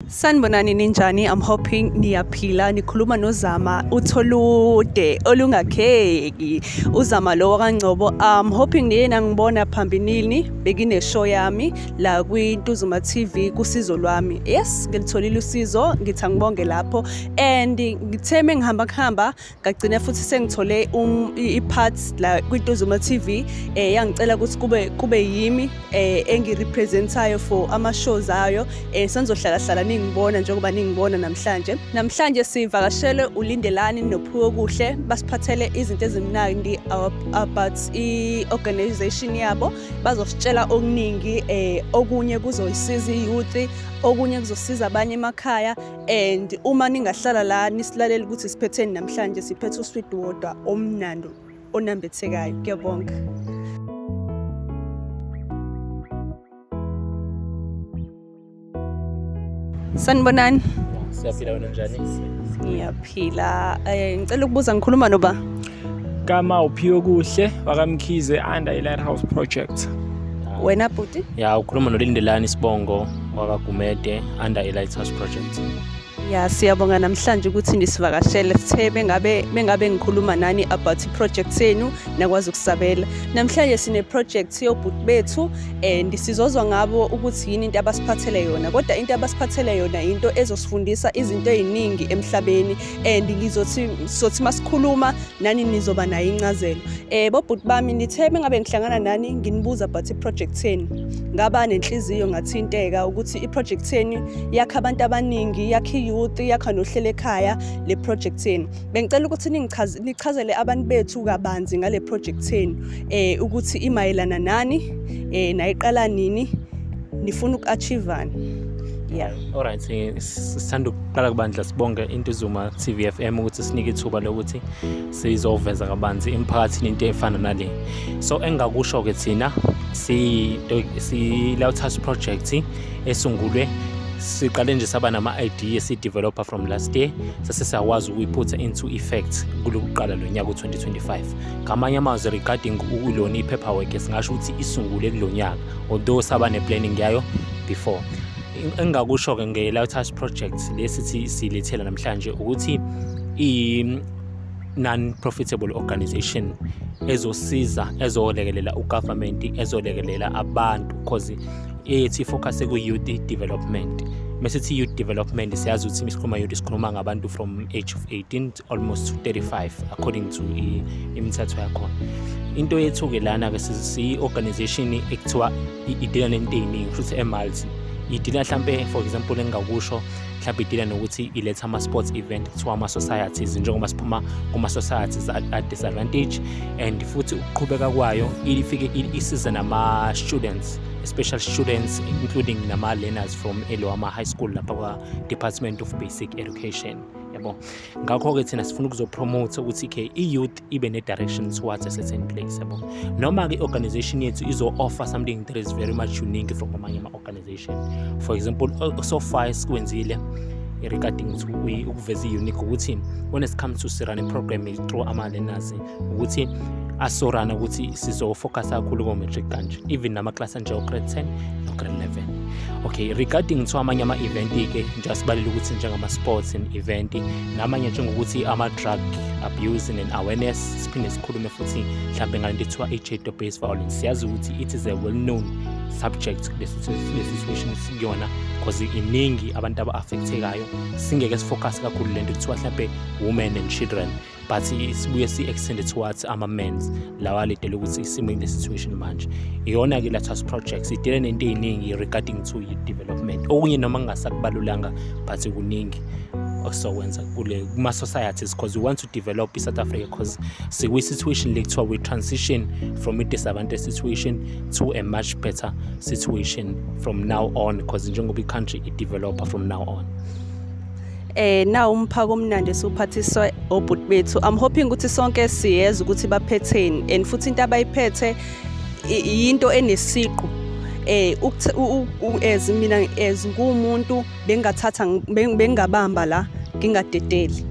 Sanibonani ninjani I'm hoping niyaphila nikhuluma nozama utholude olungakheki uzama lo wakangcobo I'm hoping niyena ngibona phambilini bekine show yami la kwi Ntuzuma TV kusizo lwami yes ngilitholile usizo ngithi angibonge lapho and ngitheme ngihamba kuhamba ngagcina futhi sengithole um, i-parts la kwituzuma TV eh yangicela ukuthi kube kube yimi eh engirepresentayo for ama shows ayo eh senzohlala hlala ningibona njengoba ningibona namhlanje namhlanje sivakashele ulindelani nophuko kuhle basiphathele izinto ezimnandi about i organization yabo bazositshela okuningi eh okunye kuzoyisiza i youth okunye kuzosiza abanye emakhaya and uma ningahlala la nisilalele ukuthi siphetheni namhlanje siphethe usweet water omnandi onambithekayo kuyabonga sanibonani siyaphila wena njani ngiyaphila um ngicela ukubuza ngikhuluma noba kama uphiwe kuhle wakamkhize under i-lighthouse project wena bhuti ya ukhuluma nolindelani sibongo wakagumede under i-lighthouse project ya siyabonga namhlanje ukuthi nisivakashele sithe bengabe bengabe ngikhuluma nani about i-project senu nakwazi ukusabela namhlanje sine-project yobhuti bethu and sizozwa ngabo ukuthi yini into abasiphathele yona kodwa into abasiphathele yona yinto ezosifundisa izinto ey'ningi emhlabeni and ngizothi sothi masikhuluma nani nizoba nayo incazelo eh bobhuti bami nithe bengabe ngihlangana nani nginibuza but iproject yenu ngaba nenhliziyo ngathinteka ukuthi iproject yenu yakha abantu abaningi yakha iyouth yakha nohlelo ekhaya le project yenu bengicela ukuthi ningichaze nichazele abantu bethu kabanzi ngale project yenu eh ukuthi imayelana nani eh nayiqala nini nifuna uku-achivani yeah Alright, sithanda ukuqala kubandla sibonge Intuzuma TV FM ukuthi sinike ithuba lokuthi sizoveza kabanzi emphakathini into efana nale. So engakusho ke thina si si Lautha's project esungulwe siqale nje saba nama idea si developer from last year sase siyakwazi ukuyiphutha into effect kulokuqala lonyaka u2025 ngamanye amazwi regarding ukulona ipaperwork singasho ukuthi isungule kulonyaka although saba ne planning yayo before engingakusho-ke nge-lighthouse project le sithi silethela namhlanje ukuthi i-non-profitable organization ezosiza ezolekelela ugovernment ezolekelela abantu because ethi focus ku-youth development mesithi youth development siyazi ukuthi sikhuluma youth sikhuluma ngabantu from age of 18 almost to 35 according to imithetho yakhona into yethu-ke lana-ke siyi-organization ekuthiwa idila nento ey'ningi futhi emalti idila mhlampe for example engingakusho mhlampe idila nokuthi iletha ama-sports event kuthiwa ama-societies njengoba siphuma kuma-societies a-disadvantage and futhi ukuqhubeka kwayo ifike isize nama-students special students including nama-learners from eloama high school lapha kwa-department of basic education yabo ngakho-ke thina sifuna ukuzopromote ukuthi ke i-youth ibe ne-direction towards a certain place yabo noma-ke i-organization yethu izo-offer something that is very much unique from amanye ama-organization for example so far esikwenzile regarding ukuveza i-unique ukuthi when it comes to sirane program through ama-learners ukuthi asorana ukuthi sizofocus kakhulu ko-matric kanje even namaklasi anjengo-grade 10 no-grade 11 okay regarding kuthiwa amanye ama-event-ke njengoba sibalele ukuthi njengama-sports and event namanye njengokuthi ama-drug abuse and awareness siphinde sikhulume futhi mhlawumbe ngale nto ethiwa i-jado based violence siyazi ukuthi it is a well known subject lesi situation sikuyona because iningi abantu aba-affectekayo singeke sifocus kakhulu le nto kuthiwa mhlawumbe women and children but sibuye si-extend towards ama-mans lawa alidele ukuthi isimo in the situation manje iyona ke lathas projects idele nento ey'ningi regarding to i-development okunye noma kungasakubalulanga but kuningi osizokwenza kule kuma-societies because we want to develop i-south africa because sikwi-situation le kuthiwa we transition from i-disadvantage situation to a much better situation from now on because njengoba i-country i-developer from now on eh na umphako omnandi suphathiswa obhuti bethu i'm hoping ukuthi sonke siyeza ukuthi baphetheni and futhi into abayiphethe yinto enesiqu eh as mina as ngumuntu bengathatha bengabamba la ngingadedeli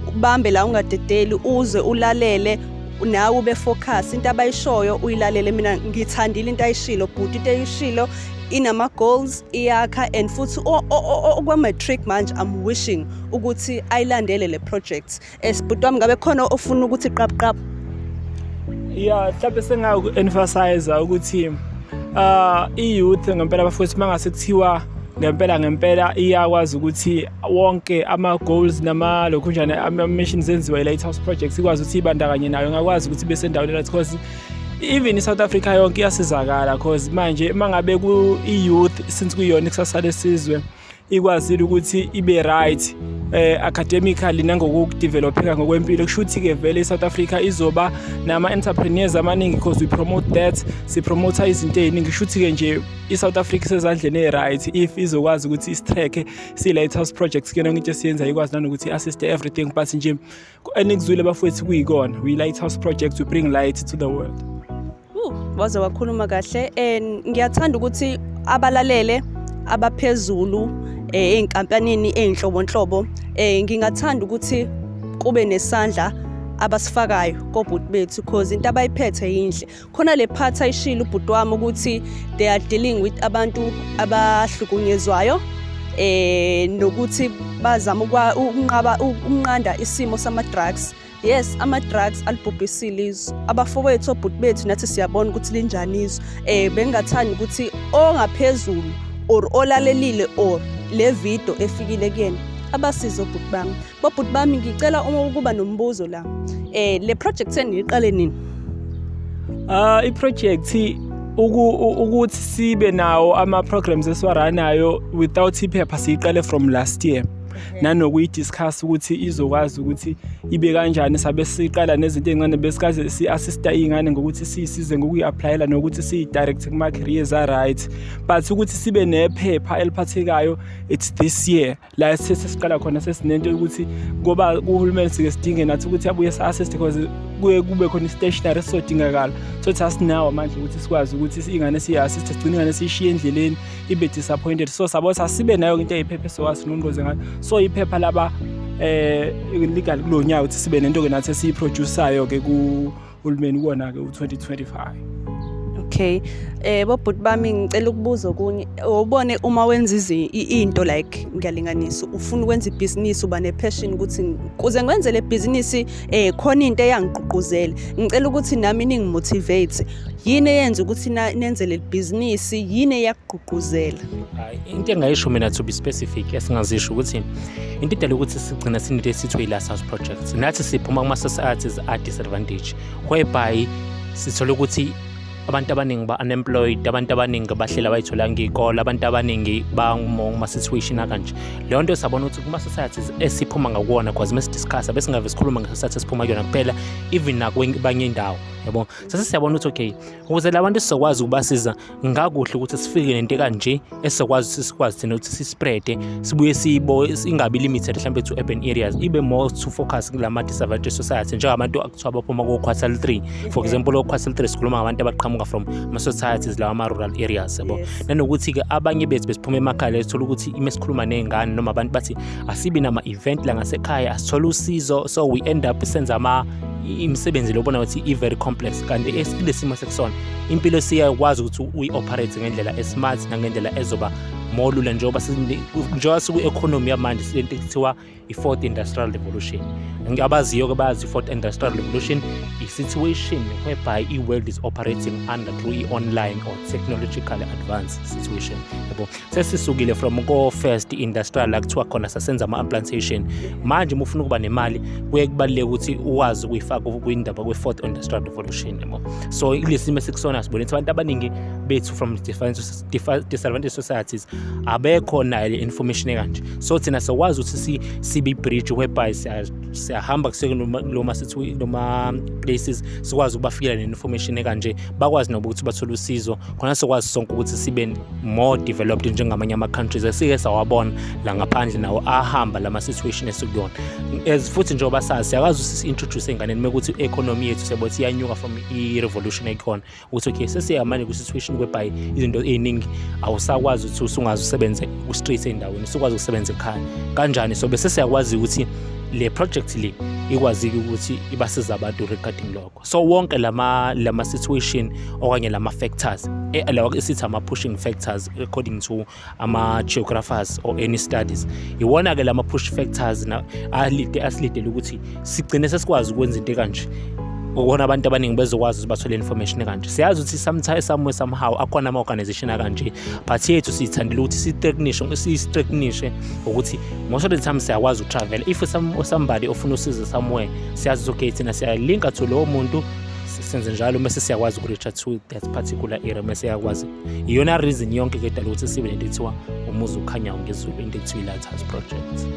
ubambe la ungadedeli uze ulalele nawe ube focus into abayishoyo uyilalele mina ngithandile into ayishilo bhuti into ayishilo inama goals iyakha and futhi okwa matric manje i'm wishing ukuthi ayilandele le project esibhuti wami ngabe khona ofuna ukuthi qap qap yeah mhlawumbe sengaku emphasize ukuthi uh i youth ngempela bafowethu mangase kuthiwa ngempela ngempela iyakwazi ukuthi wonke ama goals nama lokhunjana ama missions enziwa i lighthouse project ikwazi ukuthi ibandakanye nayo ngakwazi ukuthi bese endaweni right because even i-south africa yonke iyasizakala cause manje uma ngabe ku-youth since kuyona ikusasa lesizwe ikwazile ukuthi ibe right eh academically nangokudevelopheka ngokwempilo kusho ukuthi ke vele iSouth Africa izoba nama entrepreneurs amaningi because we promote that si promote izinto eziningi kusho ukuthi ke nje iSouth Africa sezandleni eziright if izokwazi ukuthi isitrack si lighthouse projects kuyona into esiyenza ikwazi nanokuthi assist everything but nje enikuzwile bafowethu kuyikona we lighthouse project we bring light to the world waze wakhuluma kahle and ngiyathanda ukuthi abalalele abaphezulu eh, ezinkampanini ezinhlobonhlobo eh, ngingathanda ukuthi kube nesandla abasifakayo kobhuti bethu cause into abayiphethe yinhle khona le part ayishilo ubhuti wami ukuthi they are dealing with abantu abahlukunyezwayo eh nokuthi bazama ukunqaba ukunqanda isimo sama drugs yes ama drugs alibhubhisile izwe abafowethu obhuti bethu nathi siyabona ukuthi linjani izwe eh bengathanda ukuthi ongaphezulu or olalelile or le video efikile kuyena abasize obhuti bami Bobhuti bami ngicela uma ukuba nombuzo la. Eh le project seniyiqale nini? Ah i project ukuthi sibe nawo ama programs esiwaranayo without iphepha siyiqale from last year. nanokuyidiscuss ukuthi izokwazi ukuthi ibe kanjani sabe siqala nezinto ezincane besikaze si-assista iy'ngane ngokuthi siyisize ngokuyi-aplayela nokuthi siyi-direct kuma-careers a-right but ukuthi sibe nephepha eliphathekayo it's this year la sesiqala khona sesinento ukuthi ngoba uhulumeni sike sidinge nathi ukuthi abuye sa-assist because kuye kube khona i-stationary esizodingakala so thi asinawo amandla ukuthi sikwazi ukuthi ingane siyi-assist sigcine ingane siyishiye endleleni ibe disappointed so sabo sasibe nayo into eyiphepha esiwasinongoze ngayo so iphepha laba um legal kulo nyaka ukuthi sibe nento-ke nathi esiyiprodusayo-ke uhulumeni kuwona-ke u-2025 okay eh bobhuti bami ngicela ukubuza okunye ubone uma wenza into like ngiyalinganisa ufuna ukwenza ibhizinisi uba nepassion ukuthi kuze ngwenze le bhizinisi eh khona into eyangigqugquzela ngicela ukuthi nami ningimotivate yini eyenza ukuthi nenze le bhizinisi yini eyak ukugqugquzela hayi into engayisho mina to be specific esingazisho ukuthi into idala ukuthi sigcina sinento esithiwa i-last house project nathi siphuma kuma-societies a-disadvantage whereby sithole ukuthi abantu abaningi ba-unemployed abantu abaningi bahlela bayitholanga iy'kole abantu abaningi banguma-situation akanje leyo nto sabona ukuthi kuma-societies esiphuma ngakuwona cause uma sidiscussa besingave sikhuluma nge-society esiphuma kuyona kuphela even nakwabanye indawo yabo sase siyabona ukuthi okay ukuze labantu sizokwazi ukubasiza ngakuhle ukuthi sifike nento kanje esizokwazi ukuthi sikwazi thina ukuthi sispreade sibuye siyibo ingabi limited mhlawumbe to urban areas ibe more to focus kula ma-disadvantaged society njengabantu akuthiwa baphuma ko-quartal three for example o-quartal three sikhuluma ngabantu abaqhamuka from ama-societies lawa ama-rural areas yabo nanokuthi-ke abanye bethu besiphuma emakhaya lethola ukuthi uma sikhuluma ney'ngane noma abantu bathi asibi nama event la ngasekhaya asithola usizo so we end up senza ama imisebenzi lobona ukuthi i very complex kanti esilesimo sekusona impilo siyakwazi ukuthi uyi operate ngendlela esmart nangendlela ezoba more lula njengoba njengoba siku economy yamanje silento ekuthiwa i fourth industrial revolution abaziyo ke bazi i fourth industrial revolution i situation whereby i world is operating under through i online or technological advance situation yabo sesisukile from ko-first industrial la kuthiwa khona sasenza ama-implantation manje uma ufuna ukuba nemali kuye kubaluleke ukuthi uwazi ukuyifaka kwindaba kwe-fourth industrial revolution yabo so ilesi simo esikusona sibone ukuthi abantu abaningi bethu from disadvantage societies abekho nayo le information ekanje so thina sokwazi ukuthi sibe bridge whereby siyahamba kusekuloma sithi noma places sikwazi ukubafikela ne-information ekanje bakwazi noba ukuthi bathole usizo khona sokwazi sonke ukuthi sibe more developed njengamanye ama-countries esike sawabona la ngaphandle nawo ahamba la ma-situation esikuyona as futhi njengoba sazi siyakwazi ukuthi si-introduce enganeni mekuthi i-economy yethu siyabothi iyanuka from i-revolution ekhona ukuthi okay sesiyamane kwi-situation whereby izinto ey'ningi awusakwazi ukuthi usungazi usebenze ku-street endaweni usukwazi ukusebenza ekhaya kanjani so bese siyakwazi ukuthi le project le ikwazile ukuthi ibasiza abantu regarding lokho so wonke lama lama situation okanye lama factors eh, lawa sithi ama pushing factors according to ama geographers or any studies iwona ke lama push factors na asilide asilidele ukuthi sigcine sesikwazi ukwenza into kanje ukona abantu abaningi bezokwazi ukuthi bathole information kanje siyazi ukuthi sometimes somewhere somehow akhona ama organization akanje but yethu sithandile ukuthi si technician si technician ukuthi most of the time siyakwazi uku travel if some somebody ofuna usizo somewhere siyazizogate thina siyalinka to lowo muntu senze njalo mese siyakwazi ukureacha to that particular area mese siyakwazi iyona reason yonke ke dala ukuthi sibe nento ethiwa umuzi ukhanyayo ngezulu into ekuthiwa i-lighthouse project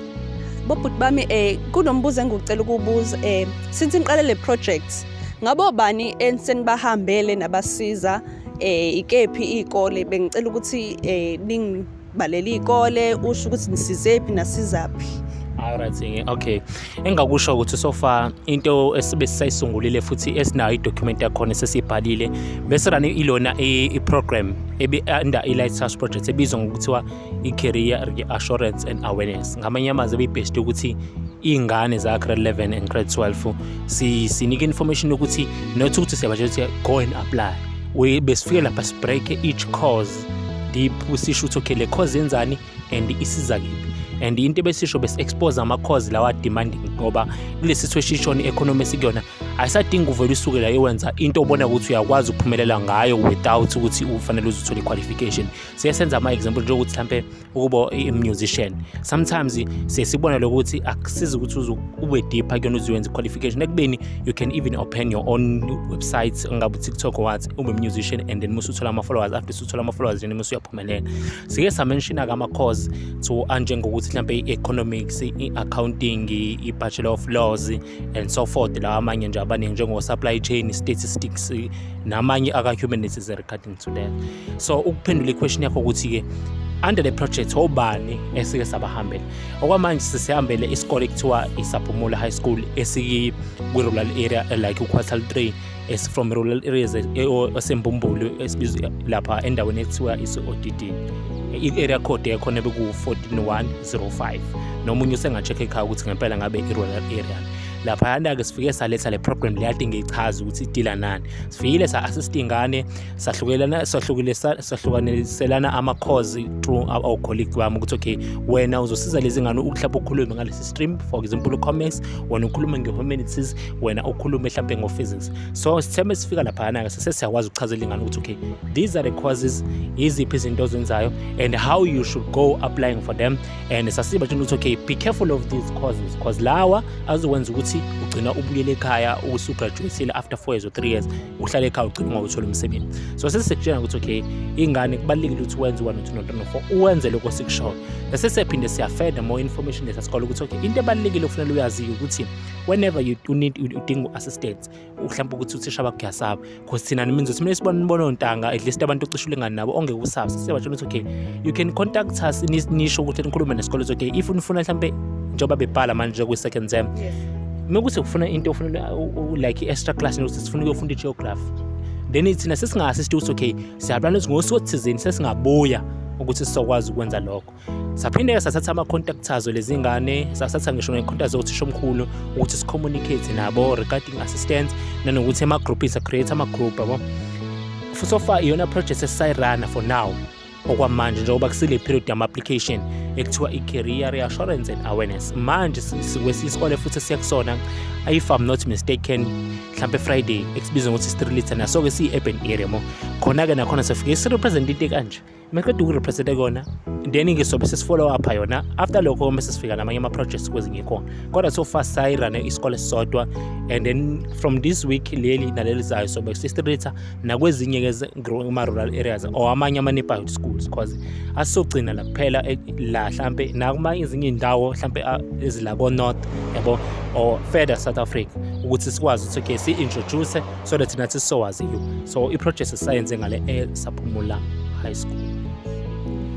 bobhuti bami um kunombuzo engikucela ukuwubuza um eh, since niqale le project ngabo bani ensenibahambele nabasiza um ikephi iy'kole bengicela ukuthi um balele iy'kole usho ukuthi nisizephi nasizaphi Alright-ke okay engakusho ukuthi so far into esibe sisayisungulile futhi esinayo idocument yakhona sesiyibhalile bese rani ilona i-program under i-light touch project ebizwa ngokuthiwa i-career assurance and awareness ngamanye amazwi ebeyibheshte ukuthi iy'ngane za-grade 11 and grade 12 sinike information yokuthi not ukuthi siyabatshela ukuthi go and apply besifike lapha sibreak each cause deep usisho ukuthi okay le cause yenzani and isiza kiphi and into ebesisho besi-expose ama-cause lawa demanding ngoba kule situation i-economy esikuyona ayisadingi uvele usuke la iwenza into obona ukuthi uyakwazi ukuphumelela ngayo without ukuthi ufanele uze uthole i-qualification siye senza ama-example njengokuthi mhlampe ukuba i-musician sometimes sesibona lokuthi akusizi ukuthi uze ube deeper kuyona uze wenze qualification ekubeni you can even open your own website ungabe utiktok wathi ube musician and then musu uthola ama-followers after usuthola ama-followers then musu uyaphumelela sike samenshina-ke ama-course to anjengokuthi mhlawumbe i-economics i-accounting i-bachelor of laws and so forth lawa amanye nje abaningi njengo-supply chain statistics namanye aka-humanities regarding to that so ukuphendula iquestion yakho ukuthi-ke under the project obani esike sabahambela okwamanje sisihambele isikole kuthiwa isaphumulo high school esikwi-rural area like uquartal three esifrom rural areas e, esembumbulu esibizwa lapha endaweni ekuthiwa isi-odd i-area code yakhona beku-14105 nomunye usenga-check ekhaya ukuthi ngempela ngabe i-rural area laphayana-ke sifike saletha le program leyati ngiyichaza ukuthi idila nani sifile sa-assist ingane sahlukelana sahlukaniselana ama-cause through ocolleague bami ukuthi okay wena uzosiza lezi ngane mhlawumbe ukhulume ngalesi stream for example u-comics wena ukhulume nge-humanities wena ukhulume mhlawumbe ngo-physics so sithembe sifika laphana-ke sese siyakwazi ukuchazela ingane ukuthi okay these are the causes yiziphi izinto ozenzayo and how you should go applying for them and sasiba tshena ukuthi okay be careful of these causes because lawa azokwenza ukuthi ugcina ubuyele ekhaya usugraduatile after four years or three years uhlale ekhaya ugcina ungawutholi umsebenzi so sesisekutshena ukuthi okay ingane kubalulekile ukuthi wenze one two noto no four uwenze lokho sikushoyo sesisephinde siyafeda more information lesa sikole ukuthi okay into ebalulekile okufanele uyaziyo ukuthi whenever you, you need udinga u-assistance uhlawumbe ukuthi uthisha bakho uyasaba because thina nimi ngizothi mina sibona nibona ontanga at least abantu ocisha ulingani nabo ongeke usabe sisebatshela ukuthi okay you can contact us nisho ukuthi nikhulume nesikole ukuthi okay if unifuna mhlawumbe njengoba bebhala manje kwi-second term uma ukuthi ufuna into ufuna like i-extra class nokuthi sifuna ukuyofunda i-geography then thina sesingase sithi ukuthi okay siyaplana ukuthi ngosuku othizeni sesingabuya ukuthi sizokwazi ukwenza lokho saphinde sathatha ama-contact azo lezi ngane sathatha ngisho ne-contact zothisha omkhulu ukuthi si-communicate nabo regarding assistance nanokuthi ema-groupini sa-create ama-group yabo futhi ofa iyona project esisayirana for now okwamanje njengoba kusile period yama-application ekuthiwa i-career reassurance and awareness manje sikwesikole futhi siya kusona if i'm not mistaken mhlampe friday ekubizwa ngokuthi street litter naso-ke siyi-urban area mo khona-ke nakhona sifike sirepresent into kanje maqeda ukurepresente kona then ke sobe sesifollow up yona after lokho uma sesifika namanye ama-projects kwezinye khona kodwa so far sayirane isikole sisodwa and then from this week leli naleli zayo sobe sisitreatha nakwezinye-ke kuma-rural areas or amanye ama-neighborhood schools because asizogcina la kuphela eh, la hlampe nakuma ezinye iy'ndawo hlampe ah, ezila ko-north yabo or further south africa ukuthi sikwazi ukuthi okay si-introduce so that nathi sizowazi you so i-project sisayenze ngale esaphumula high school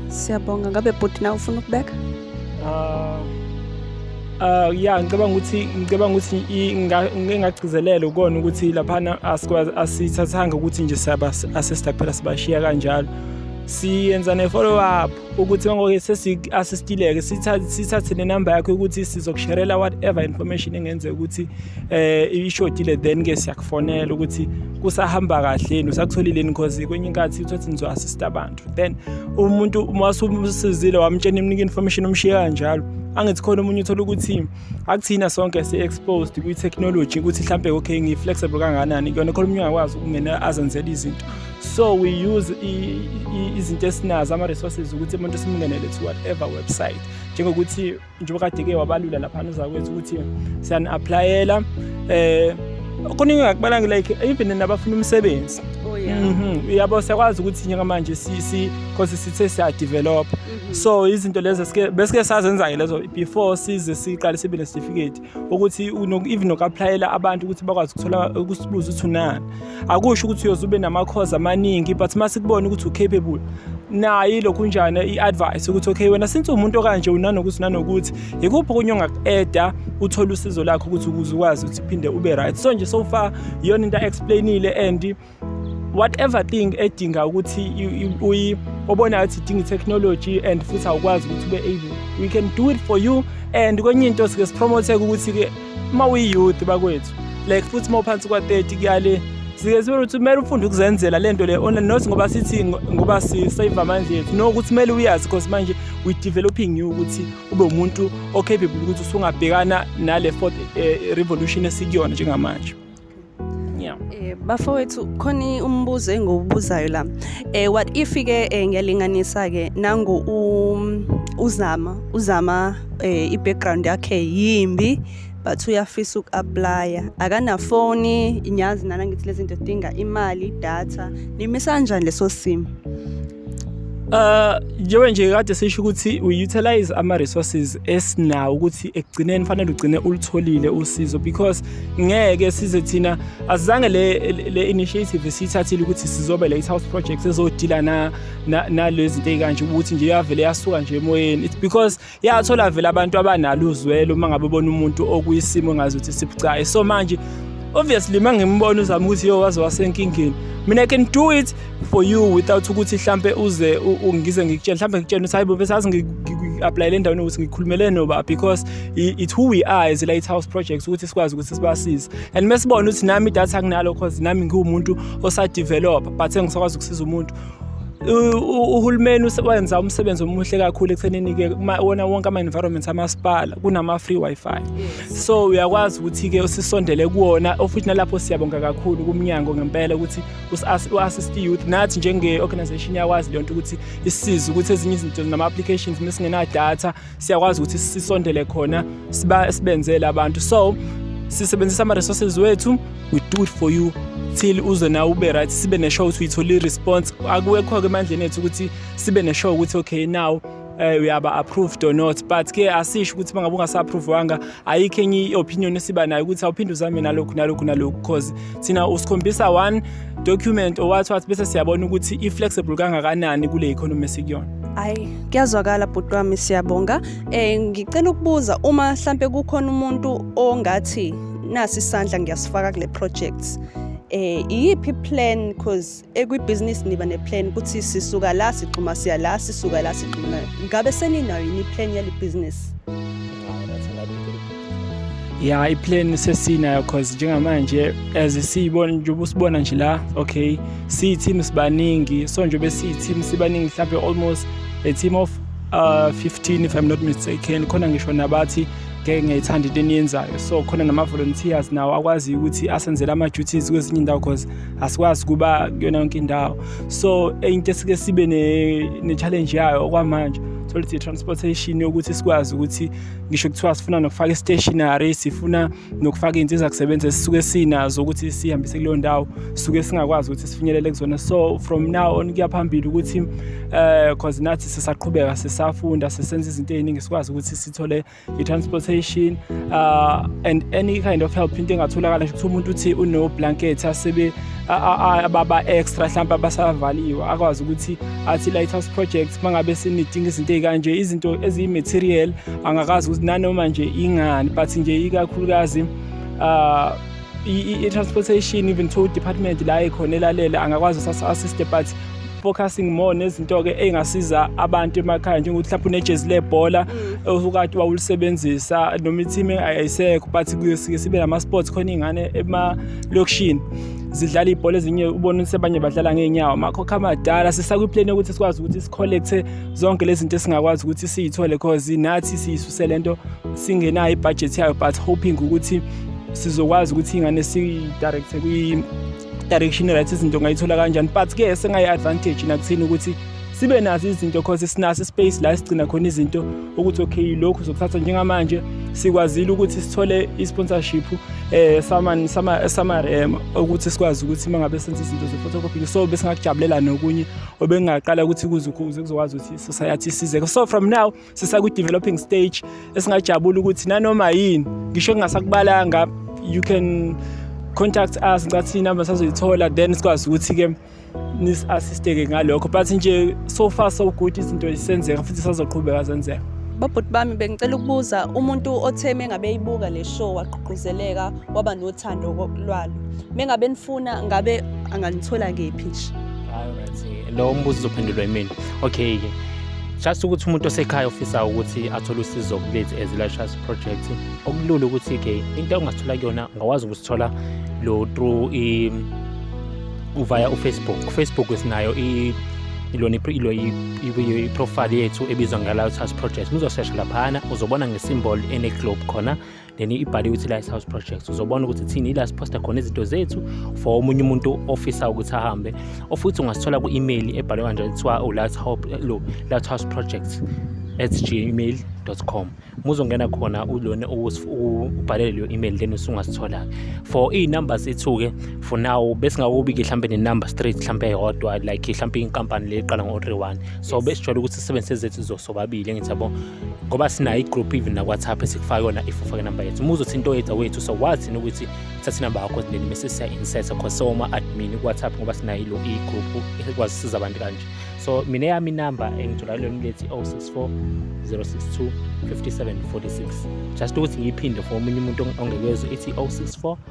siyabonga ngabe bhuti na ufuna ukubeka uh, Uh yeah ngicabanga ukuthi ngicabanga ukuthi engagcizelela ukona ukuthi laphana asithathanga ukuthi nje siyaba assist kuphela sibashiya kanjalo siyenza ne follow up ukuthi ngoke sesi-assistileke sithathe nenumber yakho ukuthi sizokusherela whatever information engenzeka ukuthi um ishodile then-ke siyakufonela ukuthi kusahamba kahleni usakutholileni because kwenye inkathi uthathi nizo-assista abantu then umuntu masumsizile wamtshena imnika information umshiye kanjalo angithi khona omunye uthola ukuthi akuthina sonke si-exposed kwi-technology ukuthi mhlawumbe okay ngi-flexible kanganani kuyona khona omunye ungakwazi ukungena azenzela izinto so we use izinto esinazo ama-resources ukuthi umuntu simngenele to whatever website njengokuthi njengoba kade-ke wabalula laphana uzakwethu ukuthi siyani-aplayela um eh, kuningi ngakubalanga like even nabafuna umsebenzi oh, mhm. uyabo siyakwazi ukuthi njengamanje because sithe siyadevelopha mhm. so izinto lezo besike sazenza-ke lezo before size siqale sibe nesitifiketi ukuthi even noku-aplayela abantu ukuthi bakwazi ukuthola ukusibuza ukuthi unani akusho ukuthi uyoze ube namakhozi amaningi but uma sikubona ukuthi u-capable nayo ilokhu njani i-advice ukuthi okay wena since umuntu okanje unanokuthi nanokuthi yikuphi okunye ongaku-eda uthole usizo lakho ukuthi ukuze ukwazi ukuthi uphinde ube right so nje so far iyona into a-explainile and whatever thing edinga ukuthi uyi obonayo ukuthi idinga i-technology and futhi awukwazi ukuthi ube able we can do it for you and kwenye into sike sipromotheke ukuthi-ke uma uyi-youth bakwethu like futhi uma uphansi kwa-30 kuyale sike sibe ukuthi kumele ufunde ukuzenzela le nto le online not ngoba sithi ngoba sisave amandla ethu no ukuthi kumele uyazi because manje we developing you ukuthi ube umuntu o-capable ukuthi usungabhekana nale fourth eh, revolution esikuyona njengamanje Yeah. Eh bafowethu khona umbuzo engiwubuzayo la. Eh what if ke eh, ngiyalinganisa ke nangu um, uzama uzama eh, i-background yakhe yimbi but uyafisa uku-aplya akanafoni nyazi nana ngithi lezi zinto dinga imali idatha nimisa kanjani leso simo Uh njengoba nje kade sisho ukuthi we utilize ama resources esinawo ukuthi ekugcineni fanele ugcine ulitholile usizo because ngeke size thina azange le le initiative sithathile ukuthi sizobe late house projects ezodila na nalezi zinto ezikanje ukuthi nje yavele yasuka nje emoyeni it's because yathola vele abantu abanalo uzwelo uma ngabe bona umuntu okuyisimo engazi ukuthi sibucayi so manje obviously uma ngimbona uzama ukuthi yo waze wasenkingeni mina i can do it for you without ukuthi hlampe uze ungize ngikutshela hlampe ngikutshela ukuthi hayibo besazi ngi-aplayele endaweni ukuthi ngikhulumele noba because it who we are as lighthouse projects ukuthi sikwazi ukuthi sibasize and mesibona ukuthi nami idatha kunalo cause nami ngiwumuntu osadevelopa but engisakwazi ukusiza umuntu uhulumeni wenza umsebenzi omuhle kakhulu ekuthenini-ke wona wonke ama-environment amasipala kunama-free wi-fi so uyakwazi ukuthi-ke sisondele kuwona ofuthi nalapho siyabonga kakhulu kumnyango ngempela ukuthi u-assist youth nathi njenge-organization iyakwazi leyo nto ukuthi isize ukuthi ezinye izinto nama-applications uma singenadatha siyakwazi ukuthi sisondele khona siba sibenzele abantu so sisebenzisa ama resources wethu we do it for you till uze nawe ube right sibe ne show ukuthi uyithole response akuwekho ke emandleni ethu ukuthi sibe ne show ukuthi okay now eh uyaba approved or not but ke asisho ukuthi mangabe ungasa approve wanga ayikho enye i-opinion esiba nayo ukuthi awuphinde uzame nalokhu nalokhu nalokhu because thina usikhombisa one document owathi wathi bese siyabona ukuthi i-flexible kangakanani kule economy esikuyona ayi kuyazwakala bhuti wami siyabonga um ngicela ukubuza uma mhlampe kukhona umuntu ongathi nasi isandla ngiyasifaka kule project eh iyiphi plan because ekwibhizinisi niba neplan ukuthi sisuka la sigxuma siya la sisuka la sigxuma ngabe seninayo yini iplan yale bhizinisi ya iplan sesinayo cause njengamanje as siyibona njengoba usibona nje la okay siyi-team sibaningi so njengoba siyi-team sibaningi mhlawumbe almost a team of uh, 15 if i'm not mistaken khona ngisho nabathi ngeke ngiyayithanda into eniyenzayo so khona nama-volunteers nawo akwaziyo ukuthi asenzele ama-duties kwezinye indawo cause asikwazi kuba kuyona yonke indawo so into esike sibe ne-challenge yayo okwamanje tholuthi i-transportation yokuthi sikwazi ukuthi ngisho kuthiwa sifuna nokufaka i-stationary sifuna nokufaka iy'nsiza kusebenza esisuke sinazo ukuthi sihambise kuleyo ndawo sisuke singakwazi ukuthi sifinyelele kuzona so from now on kuya phambili ukuthi um uh, cause nathi sisaqhubeka sisafunda sisenza izinto ey'ningi sikwazi ukuthi sithole i-transportation uh, and any kind of help into engatholakala nje kuthiwa umuntu uthi unoblanket asebe ababa-extra mhlawumpe abasavaliwe akwazi ukuthi athi lighthouse project uma ngabe sinidinga izinto ey'kanje izinto eziyi-material angakazi ukuthi nanoma nje ingani but nje ikakhulukazi um i-transportation even tow department la ekhona elalele angakwazi sasa-assiste but focusing more nezinto-ke ey'ngasiza abantu emakhaya njengokuthi mhlawumpe unejezi lebhola mm. ukade wawulisebenzisa noma i-team ayisekho but kuyosuke sibe nama-sports khona iy'ngane emalokishini zidlala ibhola ezinye ubona ukuthi abanye badlala ngeenyawo makho khamadala sisakwiplane yokuthi sikwazi ukuthi sikholekthe zonke lezi zinto esingakwazi ukuthi siyithole cause nathi siyisuse le nto singenayo ibhajethi yayo but hoping ukuthi sizokwazi ukuthi ingane siyidirecthe kwi-direction right izinto ngayithola kanjani but ke sengayi-advantage nakuthini ukuthi sibe nazo izinto cause sinaso ispace la sigcina khona izinto ukuthi okay lokhu zokuthatha njengamanje sikwazile ukuthi sithole i-sponsorship eh sama sama sama um, ukuthi sikwazi ukuthi mangabe senza izinto ze-photocopy so besingakujabulela nokunye obengaqala ukuthi kuze kuzokwazi ukuthi society size so from now sisakwi-developing stage esingajabula ukuthi nanoma yini ngisho kungasakubalanga you can contact us ngicathi inamba sazoyithola then sikwazi ukuthi-ke nis-assisteke ngalokho but nje so far so good izinto zisenzeka futhi sazoqhubeka zenzeka babhuti bami bengicela ukubuza umuntu othe mengabe eyibuka le show wagqugquzeleka waba nothando lwalo mengabe nifuna ngabe anganithola kephi nje lo mbuzo uzophendulwa imini okay ke just ukuthi umuntu osekhaya ofisa ukuthi athole usizo kulethu as life trust project okulula ukuthi ke into ongathola kuyona ungakwazi ukusithola lo through i via ufacebook ufacebook sinayo i ilona i-profile yethu ebizwa nge-life trust project muzosesha laphana uzobona ngesimbol ene-globe khona then ibhaliwe ukuthi Light House Projects uzobona ukuthi thini ila siposta khona izinto zethu for omunye umuntu ofisa ukuthi ahambe ofuthi ungasithola ku-email ebhalwe kanje kuthiwa uLight Hope lo Light House Projects at gmail.com muzongena khona ulona ubhalele leyo email then usungasithola for iy'number zethu-ke for now besingakubiki mhlawumbe nenumber straight mhlawumbe eyodwa like mhlawumbe inkampani le iqala ngo-three one so besijwayele ukuthi sisebenzise zethu zosobabili engithi yabo ngoba sinayo i-group even nakwatsapp esikufaka yona if ufake number yethu uma uzothi into yethu wethu so wathini ukuthi thatha inamba yakho then mese siya insert cause so uma admin kwatsapp ngoba sinayo ilo i-group ekwazi siza abantu kanje so mina yami inamba engithola kulona lethi 064 062 5746 just ukuthi ngiyiphinde for omunye umuntu ongekezwe ithi 064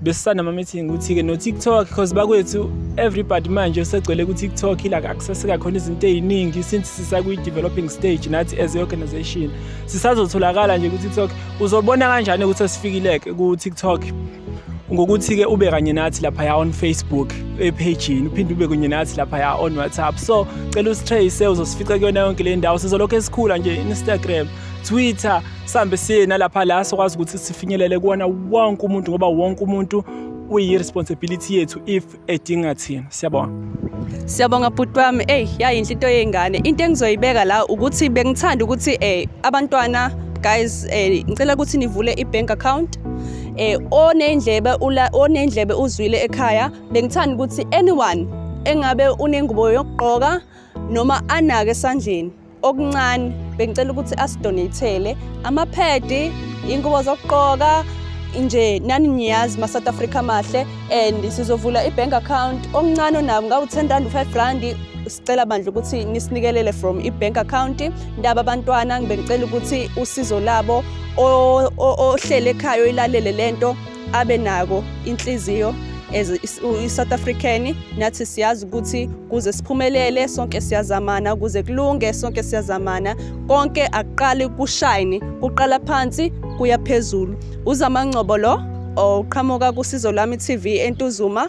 besisanda ama-meeting ukuthi-ke no-tiktok because bakwethu everybody manje usegcwele ku-tiktok ila access kakhona izinto ey'ningi since sisakwi-developing stage nathi as i-organization sisazotholakala nje ku-tiktok uzobona kanjani ukuthi esifikileke ku-tiktok ngokuthi-ke ube kanye nathi laphaya on facebook ephejini uphinde ube kunye nathi laphaya on whatsapp so cela usitrace uzosifica kuyona yonke le ndawo sizolokhu esikhula nje instagram twitter sihambe siye nalapha la sikwazi ukuthi sifinyelele kuwona wonke umuntu ngoba wonke umuntu uyi-responsibility yethu if edinga thina siyabonga Siyabonga bhuti wami eyi yayinhle into yey'ngane into engizoyibeka la ukuthi bengithanda ukuthi um abantwana guys um ngicela ukuthi nivule i-bank account eh onendlebe ula onendlebe uzwile ekhaya bengithanda ukuthi anyone engabe unengubo yokugqoka noma anake esandleni okuncane bengicela ukuthi asidonatele amaphedi ingubo zokuqoka nje nani niyazi ma South Africa mahle and sizovula ibank account omncane onabo ngawu 10 rand 5 rand sicela bandla ukuthi nisinikelele from ibank account ndaba abantwana ngibengicela ukuthi usizo labo ohlele ekhaya oyilalele lento abe nako inhliziyo as i-South African nathi siyazi ukuthi kuze siphumelele sonke siyazamana kuze kulunge sonke siyazamana konke akuqali kushine kuqala phansi kuya phezulu uzamangcobo lo oqhamuka kusizo lami TV entuzuma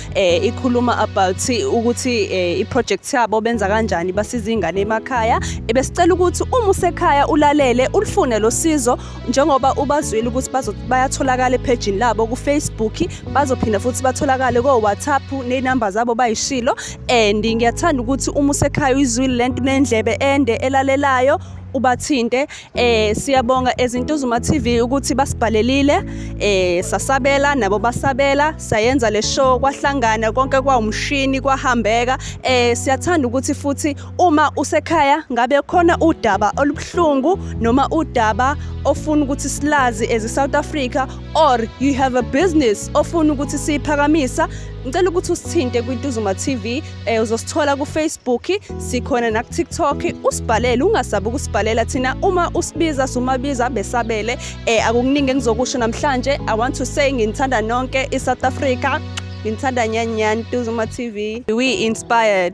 eh ikhuluma about ukuthi eh, iproject yabo benza kanjani basiza ingane emakhaya ebesicela ukuthi uma usekhaya ulalele ulifune losizo njengoba ubazwile ukuthi bazo bayatholakala epage labo ku Facebook bazophinda futhi batholakale ko WhatsApp ne number zabo bayishilo and ngiyathanda ukuthi uma usekhaya uyizwile lento nendlebe ende elalelayo ubathinte Eh siyabonga ezintuzuma TV ukuthi basibhalelile eh sasabela nabo basabela sayenza le show kwahlangana konke kwawumshini kwahambeka eh siyathanda ukuthi futhi uma usekhaya ngabe khona udaba olubuhlungu noma udaba ofuna ukuthi silazi as South Africa or you have a business ofuna ukuthi siphakamisa ngicela ukuthi usithinte kwiTuzuma TV Eh uzosithola ku Facebook, sikhona naku TikTok, usibhalele ungasabi ukusibhalela thina uma usibiza sumabiza besabele. Eh akukuningi engizokusho namhlanje. I want to say nginithanda nonke i South Africa. Nginithanda nyani nyani Tuzuma TV. We inspired.